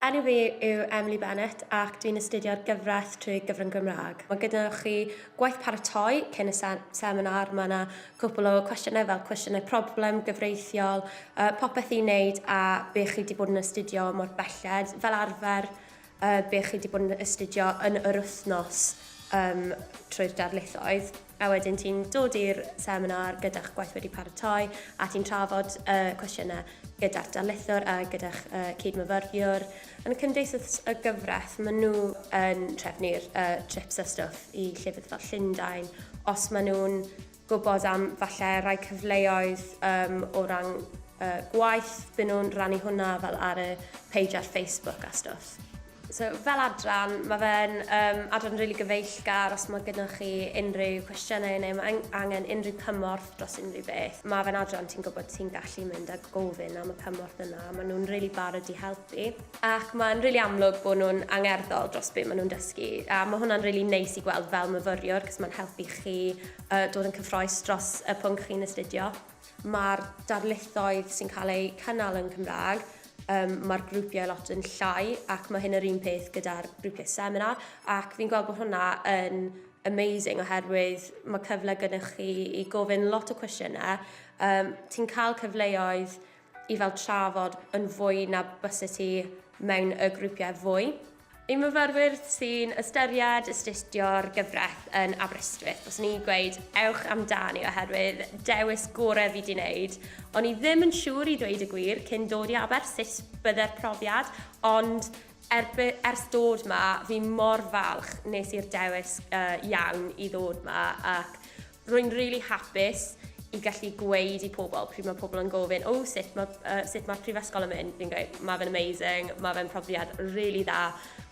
Enw fi yw Emily Bennett ac dwi'n astudio'r gyfraith trwy gyfrwng Gymraeg. Mae gyda chi gwaith paratoi cyn y se seminar, mae yna cwpl o cwestiynau fel cwestiynau problem, gyfreithiol, uh, popeth i wneud a be chi wedi bod yn astudio mor belled, fel arfer uh, be chi wedi bod yn astudio yn yr wythnos um, trwy'r darlithoedd. a wedyn ti'n dod i'r seminar gyda'ch gwaith wedi paratoi a ti'n trafod y uh, cwestiynau gyda'r darlithwr a gyda'ch uh, cydmyfyriwr. Yn y cymdeithas y gyfraith, maen nhw yn trefnu'r uh, trips a stwff i llefydd fel Llundain, os maen nhw'n gwybod am falle rai cyfleoedd um, o ran uh, gwaith, byn nhw'n rannu hwnna fel ar y page ar Facebook a stwff. So fel adran, mae fe'n um, adran really gyfeillgar os mae gyda chi unrhyw cwestiynau neu mae angen unrhyw cymorth dros unrhyw beth. Mae fe'n adran ti'n gwybod ti'n gallu mynd a gofyn am y cymorth yna. Maen nhw'n really barod i helpu. Ac mae'n really amlwg bod nhw'n angerddol dros beth maen nhw'n dysgu. A mae hwnna'n really neis i gweld fel myfyriwr, cos mae'n helpu chi uh, dod yn cyffroes dros y pwnc chi'n astudio. Mae'r darlithoedd sy'n cael eu cynnal yn Cymraeg, um, mae'r grwpiau lot yn llai ac mae hyn yr un peth gyda'r grwpiau seminar ac fi'n gweld bod hwnna yn amazing oherwydd mae cyfle gyda chi i gofyn lot o cwestiynau. Um, ti'n cael cyfleoedd i fel trafod yn fwy na byse ti mewn y grwpiau fwy. I myfyrwyr sy'n ystyried astudio'r gyfraith yn Aberystwyth, byswn i'n gweud ewch amdani oherwydd dewis gorau fi di wneud. O'n i ddim yn siŵr i ddweud y gwir cyn dod i Aber sut bydde'r profiad, ond Er by, ers dod ma, fi mor falch nes i'r dewis uh, iawn i ddod ma ac rwy'n rili really hapus i gallu gweud i pobl pryd mae pobl yn gofyn, o oh, sut mae uh, sut mae'r prifysgol yn mynd, fi'n gweud, mae fe'n amazing, mae fe'n profiad rili really dda,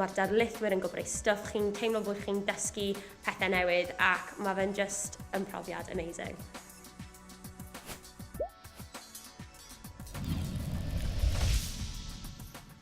mae'r darlithwyr yn gwybod ei stwff, chi'n teimlo bod chi'n dysgu pethau newydd ac mae fe'n just yn profiad amazing.